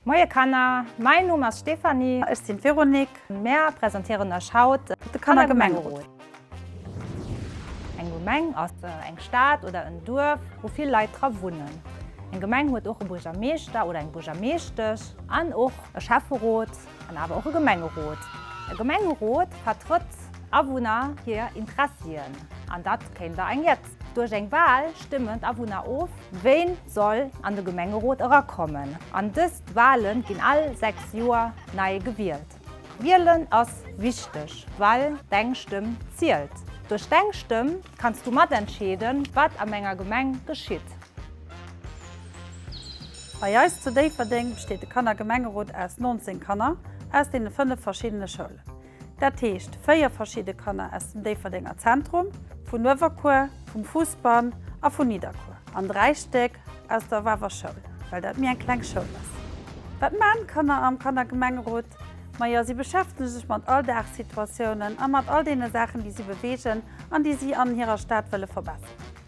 Moie Kanner, mäin Numm ass Stéphanie. Ech sinn d'Véronique. Mär presentéieren Iech haut de Kannergemengerot. Eng Gemeng ass eng Stad oder en Duerf, wou vill Leit dra wunnen. Eng Gemeng huet och e Buergermeeschter oder eng Buergermeeschtesch an och e Schäfferot an awer och e Gemengerot. E Gemengerot vertrëtt Awunner hir Interessien an dat kéint der eng jett. Duerch eng Wal stëmmen d'Awunner of, wien soll an de Gemengerot erakommen an dëst Wale ginn all 6 Joer nei gewielt. Wielen ass wichteg, well deng Stëmm zielt. Duerch deng Stëmm kanns du mat entscheeden, wat an denger Gemeng geschitt. Bei eis zu Déifferdeng besteet de Kannergemengerot aus 19 Kanner aus deene 5 verschiddene Schoulen. Dat heescht 4 verschidde Kanner aus dem Déifferdenger Zentrum, vun Uewerkuer, vum Fuusbann a vun Nidderkuer an 3 Stéck aus der Waver Schoul, well dat méi eng kleng Schoul ass. Wat maachen d'Kanner am Kannergemengerot? Majo si beschäftegen sech mat Alldagssituatiounen a mat all deene Saachen, déi si bewegen an déi si an hirer Stad wëlle verbesseren.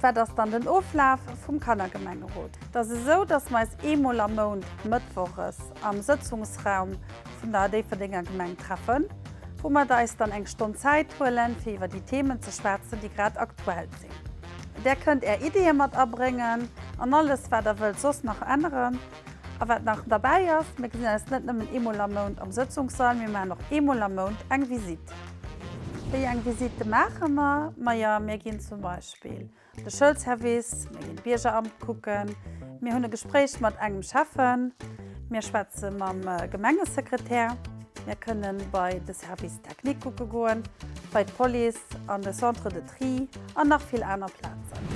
Wat ass dann den Oflaf vum Kannergemengerot? Et ass esou, dass mer eis eemol am Mount mëttwoches am Sëtzungsraum vun der Déifferdenger Gemeng treffen, wou mer eis dann eng Stonn Zäit huelen, fir iwwer déi Themen ze schwätzen, déi grad aktuell sinn. Där kënnt Är Ideeë mat abréngen an alles, wat Der wëllt soss nach änneren. A wat nach derbäi ass, Mir gesinn eis net nëmmen eemol am Mount am Sëtzungssall, mir maachen och eemol am Mount eng Visite. Wéi eng Visite maache mer? Majo, mir ginn zum Beispill an de Schoulservice, mir ginn d'Biergeramt kucken, mir hunn e Gespréich mat engem Schäffen, mir schwätze mam Gemengesekretär, mir kënnen bei de Service technique kucke goen, bei d'Police, an de Centre de. Prix an nach vill aner Plazen.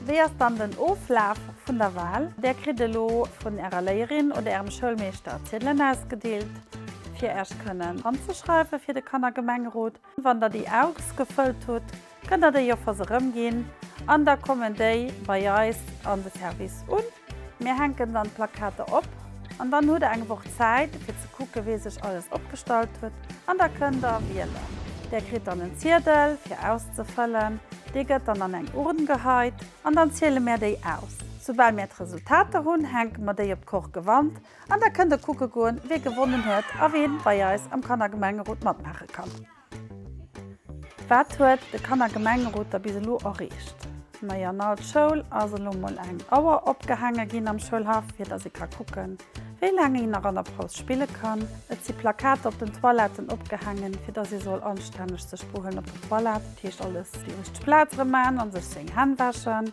Wéi ass dann den Oflaf vun der Wahl? Där kritt elo vun ärer Léierin oder ärem Schoulmeeschter Ziedelen ausgedeelt, fir Äerch kënnen anzeschreiwe fir de Kannergemengerot. Wann der déi ausgefëllt hutt, kënnt der déi Offers erëmginn an da kommen déi bei eis an de Service un. Mir hänken dann d'Plakater op an dann hutt der eng Woch Zäit fir ze kucken wee sech alles opgestallt huet an da kënnt der wielen. Der kritt dann en Ziedel fir auszefëllen, dee gëtt dann an eng Urn geheit an dann ziele mär déi aus. Soubal mär d'Resultater hunn, hänke mer déi op d'Korkewand an da kënnt der kucke goen wee gewonnen huet a ween bei eis am Kannergemengerot matmaache kann. Wat huet de Kannergemengerot da bis elo erreecht? Nei an al Schoul ass elo mol eng Auer opgehaange ginn am Schoulhaff, fir datt ee ka kucken, wéi laang een nach an der Paus spille kann. Et si Plakater op den Toiletten opgehaangen, fir datt ee soll anstänneg sech behuelen op der Toilette, dat heescht alles déi richteg Plaz erëm maachen a sech seng Hänn wäschen.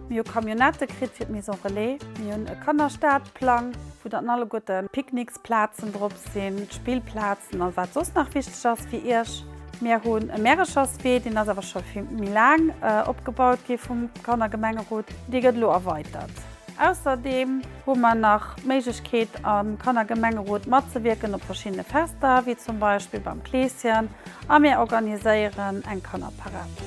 Mir hu Camionnette kritt fir d'Maison Relais. Mir hunn e Kannerstartplang, vu datt en alleguerten Picknicks Plazen drop sinn, Spillplazen a wat soss nach wichteg ass fir Iech. Mir hunn e Märecherswee, deen ass awer scho fir méi laang opgebaut gi vum Kannergemengerot, dee gëtt elo erweitert. Ausserdeem hu mer nach d'Méiglechkeet am Kannergemengerot matzewierken op verschiddene Fester, wéi zum Beispill beim Kleeschen a mir organiséieren eng Kannerparad.